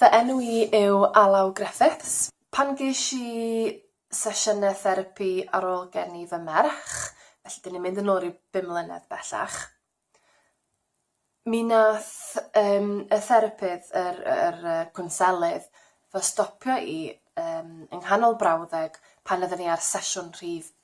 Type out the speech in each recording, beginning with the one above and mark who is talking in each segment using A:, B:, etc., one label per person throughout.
A: Fy enw i yw Alaw Griffiths. Pan ges i sesiynau therapi ar ôl geni fy merch, felly dyn ni'n mynd yn ôl ryw bum mlynedd bellach, mi wnaeth yym y therapydd, yr yr yy cwnselydd, fy stopio i yym yng nghanol brawddeg pan oedden ni ar sesiwn rhif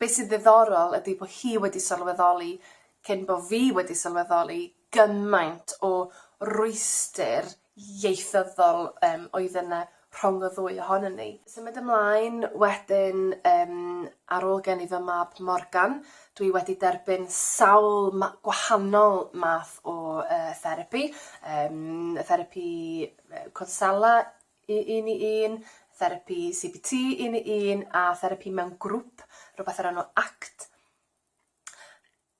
A: Be sy'n ddiddorol ydi bo hi wedi sylweddoli, cyn bo fi wedi sylweddoli, gymaint o rwystyr ieithyddol yym oedd yna rhwng y ddwy ohonon ni. Symud ymlaen wedyn yym ar ôl gen i fy mab Morgan dwi wedi derbyn sawl ma- gwahanol math o yy therapi yym therapi yy cwnsela, i un i un, therapi CBT un i un a therapi mewn grŵp, rwbeth o'r enw act.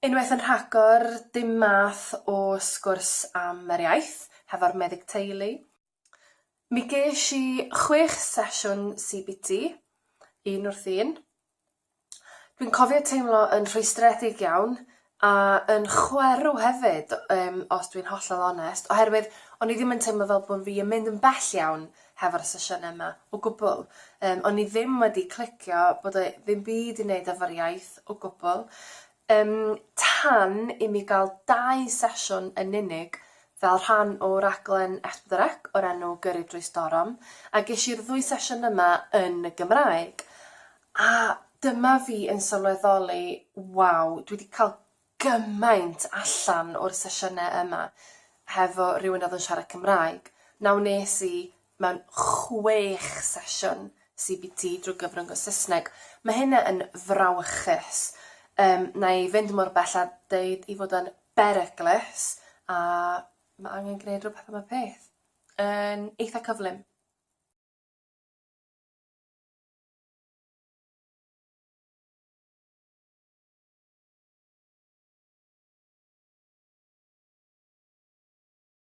A: Unwaith yn rhagor, dim math o sgwrs am yr iaith hefo'r meddyg teulu. Mi gesh i chwech sesiwn CBT, un wrth un. Dwi'n cofio teimlo yn rhwystredig iawn a yn chwerw hefyd yym os dwi'n hollol onest oherwydd o'n i ddim yn teimlo fel bo' fi yn mynd yn bell iawn hefo'r sesiyne 'ma o gwbwl yym o'n i ddim wedi clicio bod e ddim byd i neud efo'r iaith o gwbwl Ym tan i mi gael dau sesiwn yn unig fel rhan o raglen S4C o'r enw Gyrru Drwy Storm, a ges i'r ddwy sesiwn yma yn y Gymraeg. A dyma fi yn sylweddoli, waw, dwi 'di cael gymaint allan o'r sesiynau yma hefo rhywun oedd yn siarad Cymraeg. Nawr wnes i Mewn chwech sesiwn CBT drwy gyfrwng Saesneg. Mae hynna yn frawychus. Yym, na i fynd mor bell a deud ei fod o'n beryglus, a mae angen gwneud rhywbeth am y peth. Yn eitha' cyflym.